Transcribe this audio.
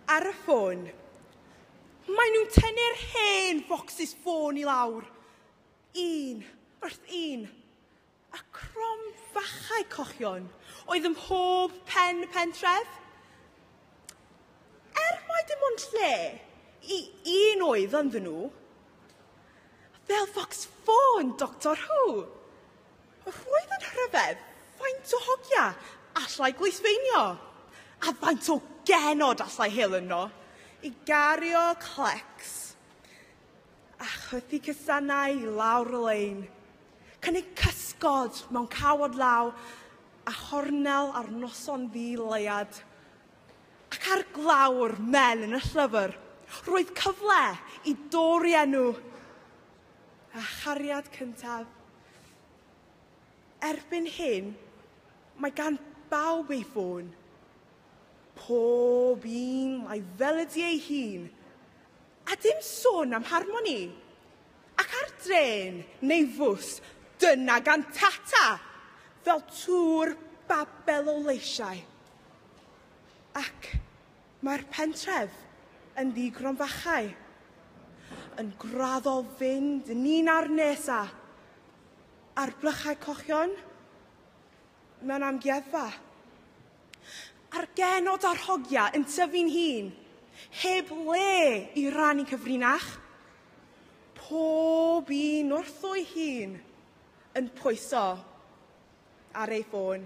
Ar y ffôn. Maen nhw'n tynnu'r hen focsys ffôn i lawr. Un, wrth un. A crom fachau cochion oedd ym mhob pen y pentref. Er mai dim ond lle i un oedd ynddyn nhw. Fel focs ffôn Doctor Who. Wrth roedd yn rhyfedd faint o hogia allai gweithfeinio, a faint o genod allai hel yno i gario clecs a chwythu cysanau i lawr y lein, cynnig cysgod mewn cawod law a chornel ar noson ddi leiad. Ac ar glawr men yn y llyfr, roedd cyfle i dorri enw A chariad cyntaf. Erbyn hyn, mae gan bawb ei ffôn. Pob un mae fel ydi ei hun. A dim sôn am harmoni. Ac ar drên neu fws, dyna gan Tata! Fel tŵr babel o leisiau. Ac Mae'r pentref yn ddi-gronfachau, yn graddol fynd yn un â'r nes a, ar blychau cochion, mewn amgueddfa. A'r genod a'r hogia yn tyfu'n hun, heb le i rannu cyfrinach. Pob un wrtho'i hun yn pwyso ar ei ffôn.